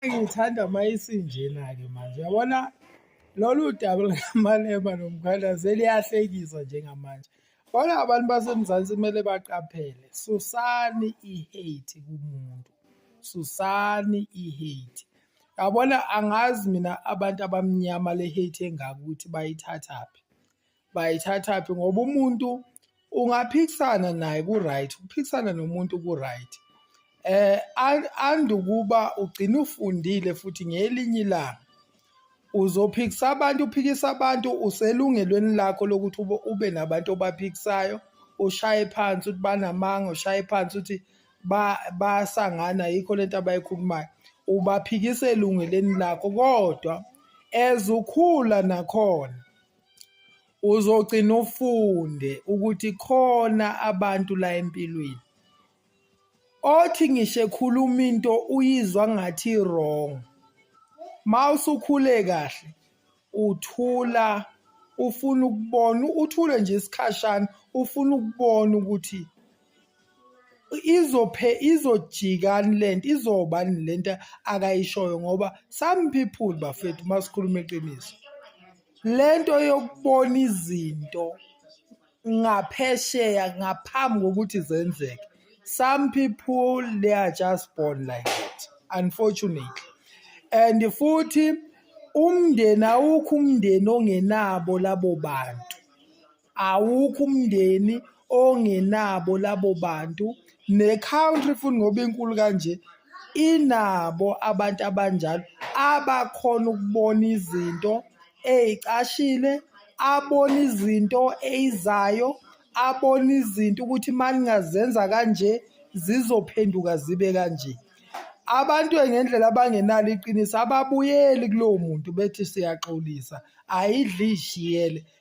Ngithanda uma isinjena-ke manje yabona lolu daba lukamalema nomkhalazi eliyahlekisa njengamanje kodwa abantu basemzansi kumele baqaphele susani i-hate kumuntu susani i-hate yabona angazi mina abantu abamnyama le-hate engaka ukuthi bayithathaphi bayithathaphi ngoba umuntu ungaphikisana naye ku-right ukuphikisana nomuntu ku-right eh andukuba ugcina ufundile futhi ngelinye ilanga uzophikisa abantu uphikisa abantu uselungelweni lakho lokuthi ube nabantu obaphikisayo ushaye phansi ukuthi banamanga ushaye phansi ukuthi basangana yikho lento abayikhulumayo ubaphikisa elungeleni lakho kodwa ezukhula nakhona uzogcina ufunde ukuthi khona abantu la empilweni othi ngisho ekhuluma into uyizwa ngathi wrong mawusukhule kahle uthula ufuna ukubona uthule nje isikhashana ufuna ukubona ukuthi izophe izojikani lento izobani lento akayishoyo ngoba some people bafethu uma sikhuluma iqiniso lento yokubona izinto ngaphesheya ngaphambi kokuthi zenzeke some people they are just born like that unfortunately and futhi umndeni awukho umndeni ongenabo labo bantu awukho umndeni ongenabo labo bantu ne-country futhi ngoba inkulu kanje inabo abantu abanjalo abakhona ukubona izinto ey'cashile abona izinto eyizayo abona izinto ukuthi uma ningazenza kanje zizophenduka zibe kanje abantu ngendlela abangenalo iqiniso ababuyeli kulowo muntu bethi siyaxolisa ayidli ishiyele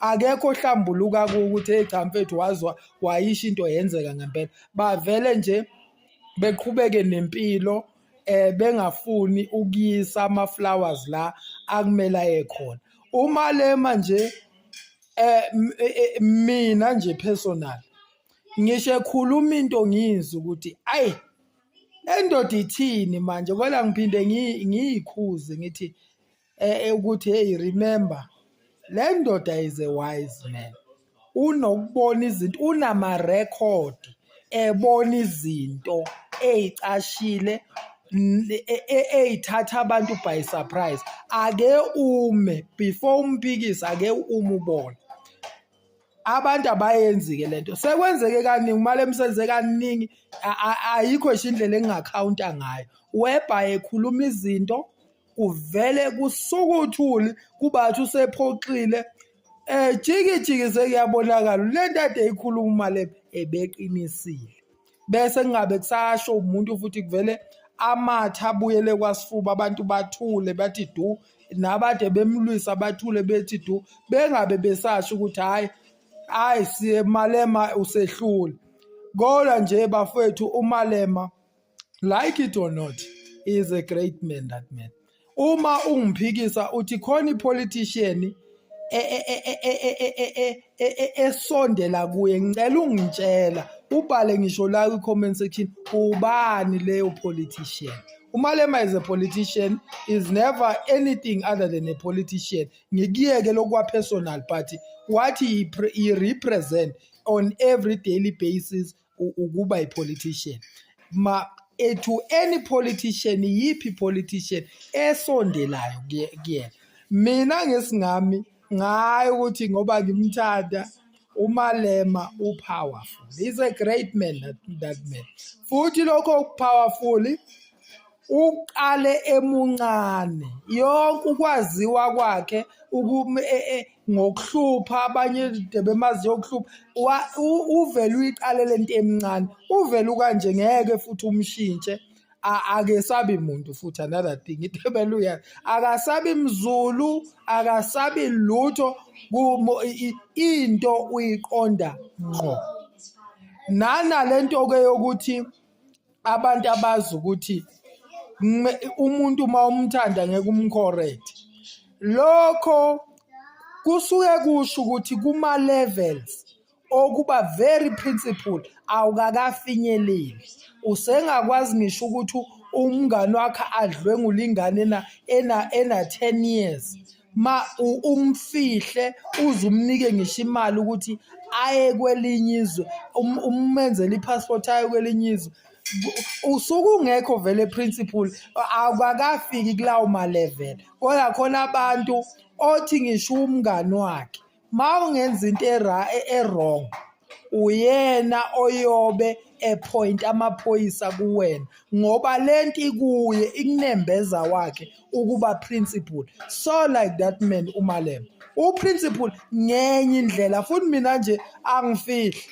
akekho ohlambuluka ukuthi hey cha mfethu wazwa wayisho into yenzeka ngempela bavele nje beqhubeke nempilo eh bengafuni ukuyisa ama flowers la akumela ekhona uma lema nje eh, eh, eh mina nje personal ngisho ekhuluma into ngizwe ukuthi ayi endoda ithini manje kwela ngiphinde ngiyikhuze ngithi eh, ukuthi hey remember le ndoda is a wise man unokubona izinto unamarekhodi ebona izinto eyicashile e, e, eyithatha abantu by surprise ake ume before umpikise ake ume ubone abantu abayenzi-ke le nto sekwenzeke kaningi umali emsenze kaningi ayikho nje indlela engingakhawunta ngayo webha ekhuluma izinto kuvele kusukuthuli kubathi usephoxile ejikijiki eh, sekuyabonakala le nto ade ikhuluma le ebeqinisile bese kungabe kusasho umuntu futhi kuvele amathe abuyele kwasifuba abantu bathule bathi du nabade bemlwisa bathule bethi du bengabe besasho ukuthi hhayi hhayi siye malema usehlule kodwa nje bafowethu umalema like it or not he is a great man that man uma ungiphikisa uthi khona ipolitician esondela kuye ngicela ungitshela ubhale ngisho la kwi-comment section ubani leyo politician umalema is a politician is never anything other than a politician ngikuyeke lokwapersonal party wathi i-represent on every daily basis ukuba ipolitician ma eh, to any politician yiphi politician esondelayo kuyena mina ngesingami ngayo ukuthi ngoba ngimthanda umalema upowerful he's a great man that, that man futhi lokho powerful uqale emuncane yonke ukwaziwa kwakhe uku e, e, ngokuhlupha abanye debemaziyo ukuhlupha uvele uyiqale le nto emncane uvele ukanje ngeke futhi umshintshe akesabi muntu futhi another thing itebele uyazi akasabi mzulu akasabi lutho into uyiqonda ngqo nana lento ke yokuthi abantu abazi ukuthi kume- umuntu uma umthanda ngeke umcorrect lokho kusuke kusho ukuthi kuma levels okuba very principle awukakafinyeleli usengakwazi ngisho ukuthi umngani wakhe adlwengula ingane ena ena ena 10 years ma u- umfihle uze umnike ngisho imali ukuthi aye kwelinye izwe um- umenzele i-passport aye kwelinye izwe Ku- usuke ungekho vele principle akakafiki kulawo malevel kodwa khona abantu othi ngisho umngani wakhe ma ungenza into era- e- e-wrong uyena oyobe ephoyinta amaphoyisa kuwena ngoba le nto ikuye ikunembeza wakhe ukuba principal so like that man umalema uprincipal ngenye indlela futhi mina nje angifihli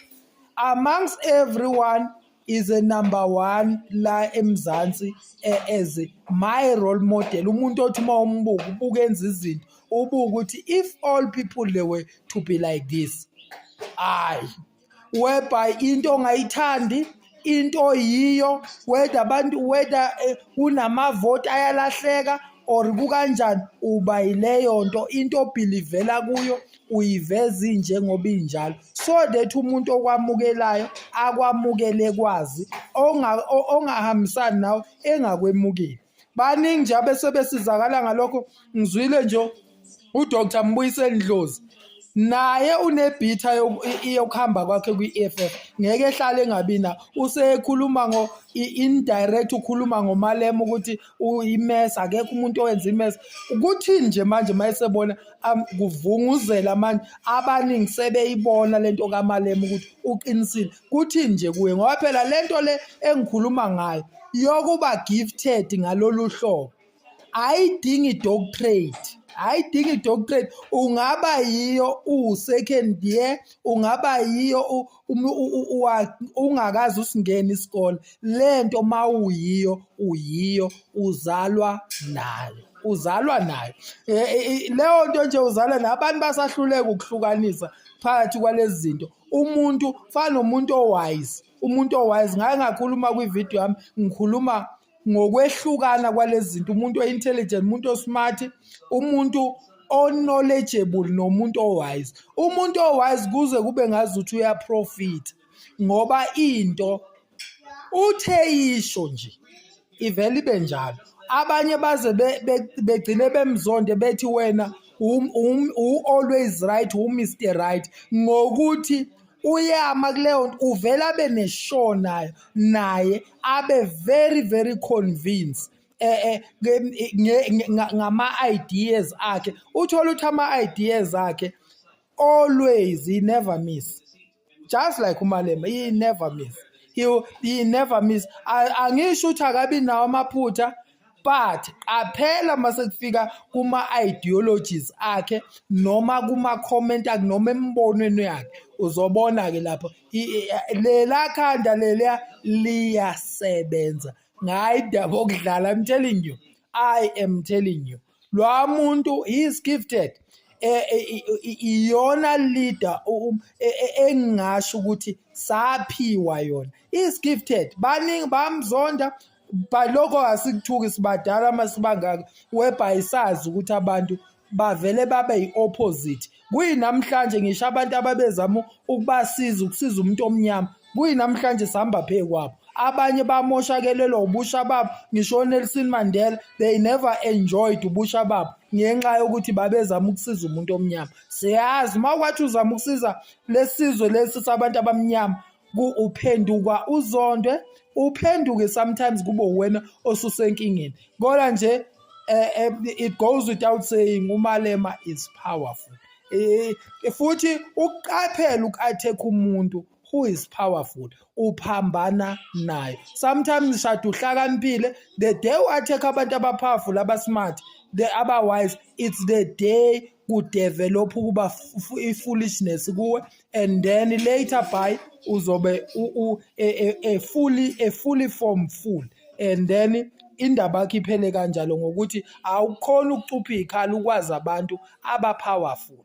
amongst everyone is a number one la eMzansi as my role model umuntu othi uma umbuka ubuka enza izinto ubuka ukuthi if all people they were to be like this hayi whereby into ongayithandi into oyiyo whether abantu whether eh, kunamavoti ayalahleka or kukanjani uba yileyo nto into obhilivela kuyo uyiveza injengoba injalo so that umuntu okwamukelayo akwamukele kwazi ongahambisani nawe engakwemukeli baningi nje abesebesizakala ngalokho ngizwile nje uDr Mbuyiseli Ndlozi naye unebhitha yokuhamba kwakhe kwi-EFF ngeke ehlale engabi na usekhuluma ngo indirect ukhuluma ngomalema ukuthi imes akekho umuntu owenza imes kuthini nje manje uma esebona kuvunguzela manje abaningi sebeyibona le nto kamalema ukuthi uqinisile kuthini nje kuye ngoba phela le nto le engikhuluma ngayo yokuba gifted ngalolu hlobo ayidingi doctorate ayidingi doctorate ungaba yiyo uwu-second year ungaba yiyo ungakazi usingena isikole le nto uma uyiyo uyiyo uzalwa nayo uzalwa nayo e, e, e, leyo nto nje uzalwa nayo abantu basahluleka ukuhlukanisa phakathi kwalezi zinto umuntu fana nomuntu owise umuntu owise ngaye ngakhuluma kwividiyo yami ngikhuluma ngokwehlukana kwalezi zinto umuntu o-intelligent umuntu o-smart umuntu o-knowledgeable nomuntu o-wise umuntu o-wise kuze kube ngazi ukuthi uyaprofitha ngoba into uthe yisho nje ivele ibe njalo abanye baze begcine bemzonde bethi wena u-always right u-mr right ngokuthi uyama kuleyo nto uvele abe neshow nayo naye abe very very convinced eh, eh ngama-ideas akhe uthole ukuthi ama-ideas akhe always he never miss just like umalema he never miss he, he never miss angisho ukuthi akabi nawo amaphutha but qaphela uma sekufika kuma-ideologies akhe noma kuma-comment akhe noma emibonweni yakhe uzobona-ke lapho lela khanda leliya liyasebenza ngayi daba okudlala i'm telling you i am telling you lwa muntu he is gifted eh, eh, iyona leader e, e, engingasho ukuthi saphiwa yona is gifted baningi bamzonda but lokho asikuthuki sibadala masibangaka webhayisazi ukuthi abantu bavele babe yi-opposite kuyinamhlanje ngisho abantu ababezama ukubasiza ukusiza umuntu omnyama kuyinamhlanje sihamba phe kwabo abanye bamoshakelelwa ubusha babo ngisho onelson mandela they never enjoyed ubusha babo ngenxa yokuthi babezama ukusiza umuntu omnyama siyazi uma kwathi uzama ukusiza lesizwe lesi sabantu abamnyama uphendukwa uzondwe uphenduke sometimes kube uwena osusenkingeni kodwa nje eh, eh, it goes without saying umalema is powerful eh, futhi ukuqaphela uku-attack umuntu who is powerful uphambana naye sometimes shade uhlakaniphile the day u-attack abantu abapowerful abasmart the otherwise it's the day kudevelop ukuba i-foolishness kuwe and then later by uzobe e, e, e fully a fully form full and then indaba yakhe iphele kanjalo ngokuthi awukhona ukucupha ikhala ukwazi abantu aba powerful